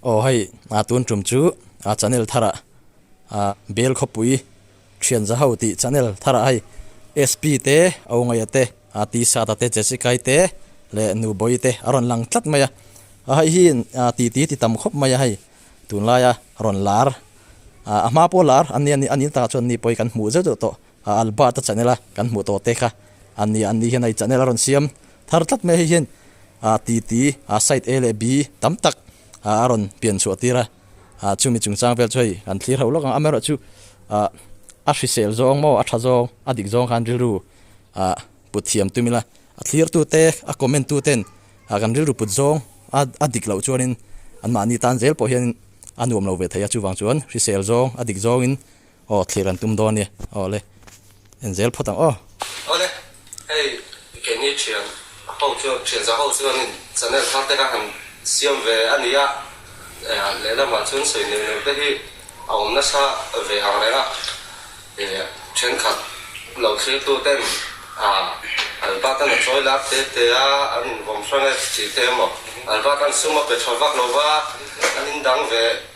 Aw hei a tun tum chu a channel thar ah ah bel khawpui thianza ho tih channel thar ah hei SP te awngaia te ah Tsata te Jessicae te leh nu bawi te a rawn lang tlat mai a a hei hi ah titi ti tam khawp mai a hei tunlai a rawn lar ah a hma pawh lar a nia ni a ni ta chuan ni pawhin kan hmuh zeuh zeuh tawh. A Albert a chanela kan hmuh tawh te kha an nia, an nih hian hei chanel a rawn siam thar tlat mai hei hian aa ti ti aa side A leh B tam tak aa a rawn pian chhuah tir a, aa chumi chungchang vel chu hei kan thlir hauh lawk ang, amerawh chu aa a hrisel zawng maw a tha zawng a dik zawng khan rilru aa put thiam tum ila a thlir tu te a comment tu ten aa kan rilru put zawng aa a dik loh chuanin anmahni tan zel pawh hianin a nuam lo ve thei a chuvang chuan hrisel zawng a dik zawngin Aw thlir an tum dawn nia aw le en zel phawt ang aw. Aw le hei i Kenny thian ho chuan thianza ho chuanin channel thar te kha han siam ve a ni a lehlamah chuan sawi neu neu te hi a awm nasa ve ang reng a thenkhat lo thlirtu ten Albat an a chawi lak te te a an in vawm hrang e chi te emaw Albat an suma pe tha vak lova an in dang ve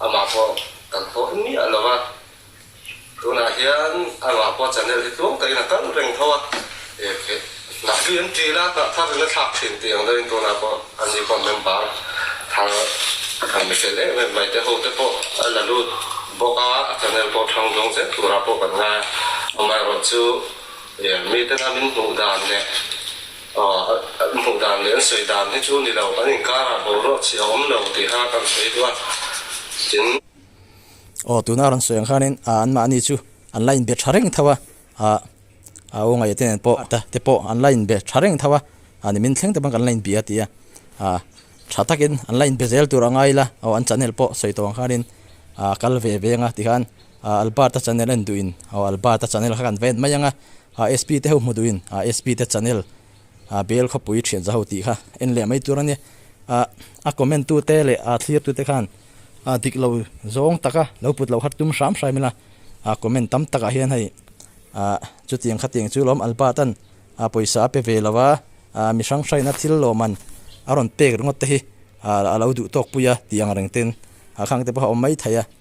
Amah pawh kan hawh em miah lo a, tunah hian amah pawh channel hi tluang takin a kal reng tho a, Nahbi an tih la hnah thar in a thlak thin tih ang deuhin tunah pawh an ni comment bar thar kan ni fel em em mai te ho te pawh a la lut bawk a, a channel pawh thang zawng zel turah pawh kan ngai a, amaherawhchu mite la min hmuh dan leh An hmuh dan leh an sawi dan hi chu ni lo, kan inkarah bo ruah chhi a awm lo tih kha kan sawi duh a, tin. Aw, tuna a rawn sawi ang khanin anmahni chu an la inbe tha reng tho a, aw ngaih te nen pawh te pawh an la inbe tha reng tho a, ni min thleng te pawh kan la inbia a ti a, tha takin an la inbe zel tur a ngai ila, aw an chanel pawh sawi tawh ang khanin kal ve ve ang a ti khan. a Albert-a channel en duhin aw Albert-a channel kha kan va en mai anga a SP te ho hmu duhin a SP te channel a bel khawpui thian za ho tih kha en leh mai tur a nia a a comment tu te leh a thlir tu te khan a dik lo zawng taka lo put lo har tum hram hraim ila a comment tam tak ah hian hei a chutiang kha tiang chu lawm Albert-an a pawisa a pe ve lo a a mi hrang hrain a thil lawm an a rawn pek ringawt te hi a lo duh tawk pui a tih angreng ten a khang te pawh a awm mai thei a.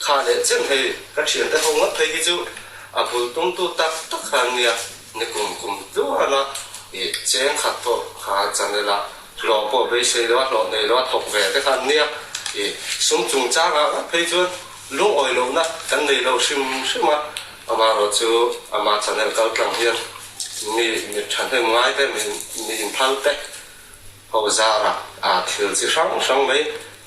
Kha leh chin hei ka thiante ho ngawt phei hi chu a bul tum tu tak tak kha an nia ni kum kum tluan a ih cheng khat pawh kha chanela hlawh pawh beisei loha hlawh nei loha thawk ve te kha an nia ih sum chung changa ngawt phei chuan lungawi lohna kan nei lo hrim hrim a amah rawh chu amah chanel kal tlang hian mi mi thahnem ngai te mi mi inphal te ho zara ah thil chi hrang hrang mai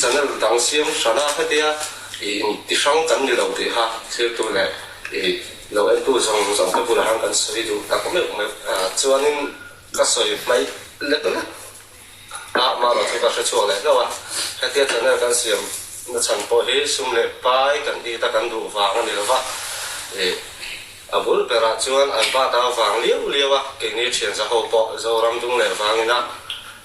Channel dang siam hrana hetia i ti hrang kan ni lo tih kha thirtu leh i lo entu zawng zawng te bulah hian kan sawi duh tak meuh meuh a, chuanin ka sawi hmaih lek lek a mahlo chu ka hre chhuak leh hlauh a, hetia channel kan siam na chhan pawh hi sum leh pai kan ti ta kan duh vang a ni lova, i a bul berah chuan an bata vang liau liau a, keini thianzaho pawh Zoramdung leh Vangina.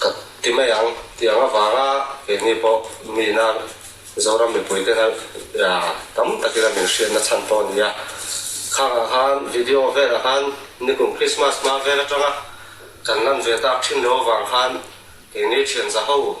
Ka ti mai ang tih ang avanga keini pawh mi nang Zoram mipui te hnalh tam takin a min hriatna chhan pawh a ni a. Khang ah khan video velah khan nikum Krismas hma vel atanga kan lanve tak thin loh avang khan keini thian za ho.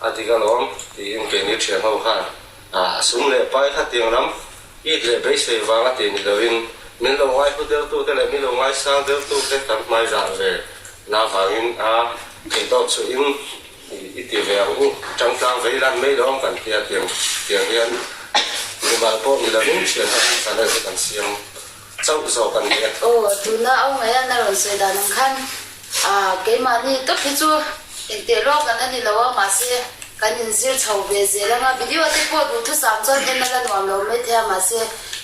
A dik alawm, tiin keini thianho khan a sum leh pai kha tiang lam it leh beisei vanga ti ni loin min lo ngaihu dertute leh min lo ngaisang dertute kan hmaizah ve na vangin a eihtawp chuhin i ti ve ang u, tangtlang vei lan mai lo ang kan ti a tiang tiang hian mimal pawh ni lovin thianho hi chan erawh hi kan siam. Chauh zawk a ni a. Aw, tuna au mai a, na rawn sawi dan ang khan. Ahh, keimahni tawp hi chu inteh luak dan a ni lo a, mahse kan inzir chho ve zel ang a, video te pawh duh thusam chuan en a la nuam lo maithei a, mahse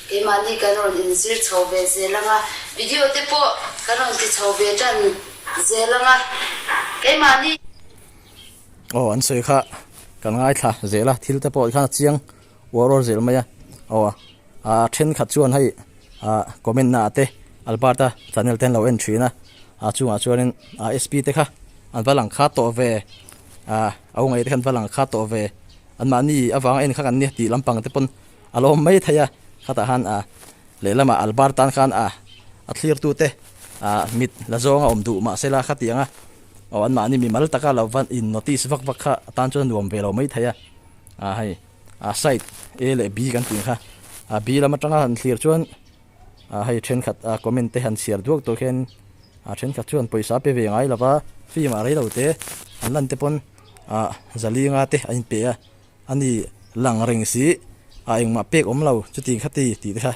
keimahni kan rawn inzir chho ve zel ang a, video te pawh kan rawn ti chho ve tan zel ang a, keimahni. Aw, an sawi kha kan ngaithla zel a, thil te pawh i khan a chiang. Uau rawr zel mai a. Aw a a thenkhat chuan hei a comment na ate albert a channel ten lo en thin a a chungah chuanin a sp te kha an va lang kha tawh ve a au ngaite khan va lang kha tawh ve an mahni avanga en kha kan nia tih lampang te pawn a lawm mai thei a khatah han a lehlama albert tan khan a a thlir tu te a mit la zawng a awm duh mah se la khatianga aw an mahni mimal taka lo va in notice vak vak kha atan chuan nuam ve lo mai thei a. a hei a side a leh b kan tih kha a b lam atanga han thlir chuan a hei thenkhat a comment te han chhiar duak tawh khian a thenkhat chuan pawisa pe ve ngai lova film ah reilo te an lan te pawn a zalinga te a inpe a a ni lang reng si a engmah pek awmlo chuti kha ti tih te kha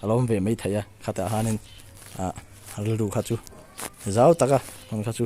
a lo awm ve mai thei a khatah hianin a rilru kha chu zau taka hmun kha chu.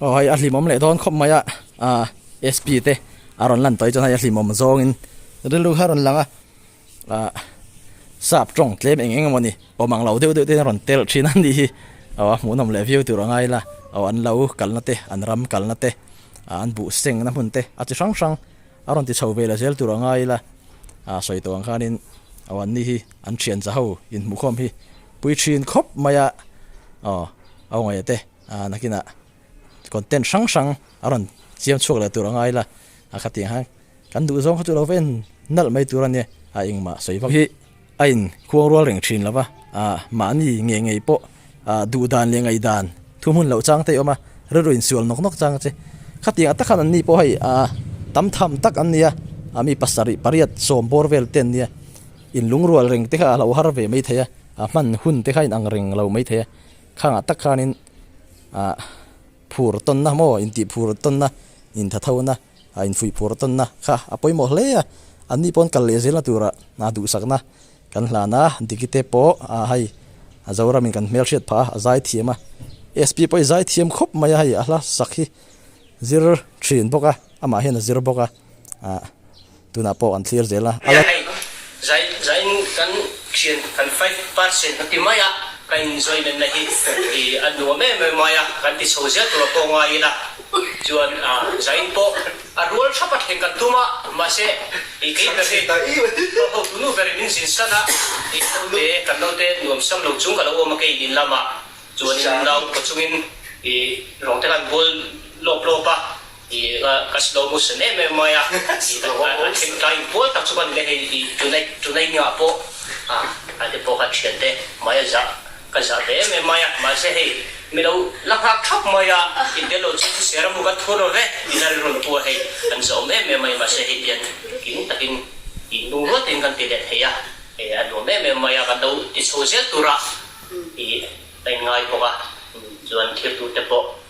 Aw hei a hlimawm leh dawn khawp mai a SP te a rawn lan tawi chuan hei a hlimawm zawngin rilru kha rawn lang a sap tawng tlem eng eng emawni awm ang lo deuh deuh ten a rawn tel thin a ni hi aw a hmuhnawm leh viau tur a ngai la aw an lo kalna te an ram kalna te an buh sengna hmun te a chi hrang hrang a rawn ti chho ve la zel tur a ngai la sawi tawh ang khanin aw an ni hi an thian za ho inhmuhkhawm hi pui thin khawp mai a aw aw nge te. A nakinah content hrang hrang a rawn siam chhuak leh tur a ngai la, a kha tih ang hian kan duh zawng kha chu lo va en nalh mai tur a nia, a engmah sawi vak hi a in khuang rual reng thin lova, a mahni ngei ngei pawh a duh dan leh ngaih dan thu hmun loh chang te hi a awm a, rilru insual nawk nawk chang che. Khatiang ata khan anni pawh hei a tam tham tak an nia, a mi pasarih pariat sawm bawr vel te an nia, in lungrual reng te kha a lo har ve mai thei a, a hman hun te kha a inang reng lo mai thei a, Thlangah tak khanin ah phur tawnna maw, intih phur tawnna, intha thona, ah infui phur tawnna kha a pawimawh hle a, anni pawn kal leh zirna tura ah duhsakna kan hlan a, Digite pawh ah hei a Zoramin kan hmelhriat phah a, a zai thiam a, SP pawh i zai thiam khawp mai a, hei a hla sak hi zir thin bawk a, amah hian a zir bawk a. ah tunah pawh kan thlir zel a. A la. Zainu kan thian kan fai par chin a ti mai a, ka enjoyment na hi a nuam em em mai a, kan ti chho zel tur a pawh ngai ila chuan ah zain pawh a rual thap a thleng ka tum a, mahse i kei ber hi ka ho tunu berin min zin san a, i ho te kan lo te nuam sam lo chung ka lo awm a kei in lamah chuan in lau khaw chungin i rawng te kan bual lawp lawp a, I ka slow motion em em mai a, a thengtlai in pual tak chu ka ni le hei i tunei nia pawh a te pawh ka thian te mai a zah ka zah ve em em mai a mahse hei mi lo la nghak thap mai a i bia lo chu thuser a hmu ka thur lo ve i la ri rawn pu a hei an zawm em em mai mahse hei pian king takin i nung rual tiin kan ti leh thei a hei a nuam em em mai a kan lo ti chho zel tur a i a in ngai bawk a chuan thirtu te pawh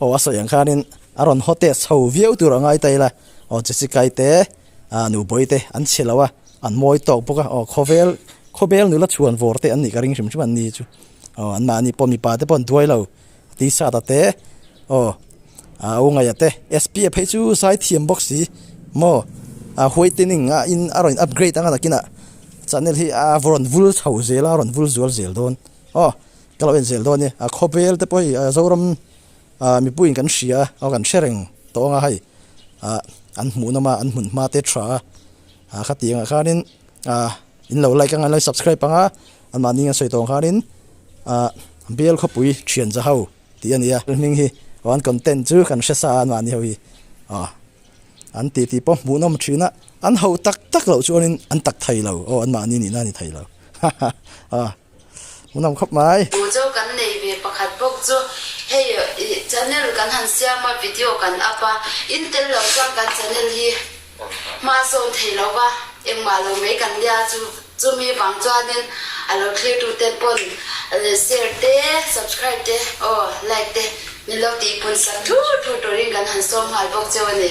Aw a sawi ang khanin a rawn haw test ho viau tur a ngai ta ila, aw Jessica-i te a nu bawi te an chhe lo a, an mawi tawk bawk a, aw khawvel khawbel nula chhuan vawr te an nih ka ring hrim hrim an ni chu, aw an mahni pawh mipa te pawh an duai lo, Tisata te aw a u ngaia te, SPF phei chu sai thiam bawk si maw, a whitening a in a rawn in upgrade ang a nakin ah Chanel hi a rawn vul chho zel a, a rawn vul zual zel dawn, aw Ka lo enzel dawn e, a khawbel te pawh hei a Zoram mipuiin kan hria a kan hre reng tawh anga hei an hmuh nawm a, an hmun hma te tha a, khati angah khanin in lo like anga in lo subscribe anga an mahni an sawi tawng khanin Bial Khawpui Thianza ho tih a nia, heng hi an content chu kan hre sa a an mahni ho hi aw an tih tih pawh hmuh nawm thin a, an ho tak tak loh chuan in an tak thei lo aw an mahni nihna a ni thei lo haha aw. Mun awm khawp mai. Mu chu kan nei ve pakhat bawk chu hei channel kan han siam a video kan up a in tel lo chuan kan channel hi hma sawn thei lo va engmah lo mai kan nia chu chumi vang chuanin a lo thlir tu ten pawn share te subscribe te aw like te ni lo tih i pun sang thu thu turin kan han sawm nghal bawk che a ni.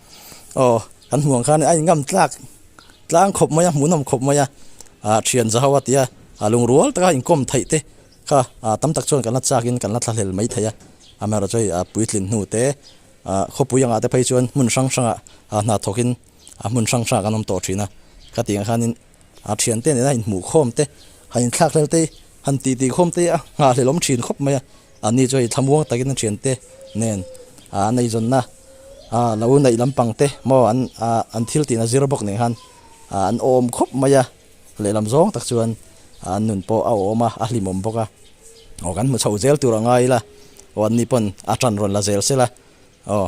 Aw kan hmuh ang khan a inngam tlak tlang khawp mai a, hmuhnawm khawp mai a, a thian za ho a tia a lungrual taka inkawm theih te kha tam tak chuan kan la chak in kan la thlahlel mai thei a, amaherawhchu hei puitlin hnute khawpui angah te phei chuan hmun hrang hrangah hna thawk in hmun hrang hrangah kan awm tawh thin a, ka tih ang khan in. a thian te nena inhmuh khawm te, han inthlak hlel te, han tih tih khawm te a nghahhlelawm thin khawp mai a, anni chu hei thlamuang takin a thian te nen a neihzawnna a lo neih lampang te maw an an thil tihna zir bawk nen khan an awm khawp mai a, lehlam zawng tak chuan an nun pawh a awm a, a hlimawm bawk a, aw kan hmu chho zel tur a ngai ila, aw anni pawn a tan rawn la zel sela aw.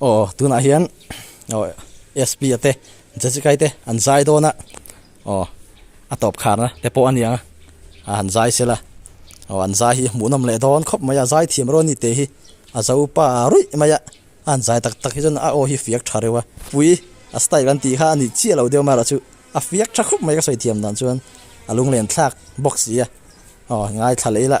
Aw, tunah hian SP a te Jajikai te an zai dawn a, aw a tawp kharna te pawh a niang a, a han zai sil a, aw an zai hi hmuhnawm leh dawn khawp mai a, zai thiam reuh a ni teh hi a zo pa ruih mai a, a han zai tak tak hi chuan a aw hi fiak tha reuh a, pui a style kan tih kha a ni chiah loh deuh mai a chu a fiak tha khawp mai ka sawi thiam dan chuan a lunglen thlak bawk sia, aw ngaithla leh ila.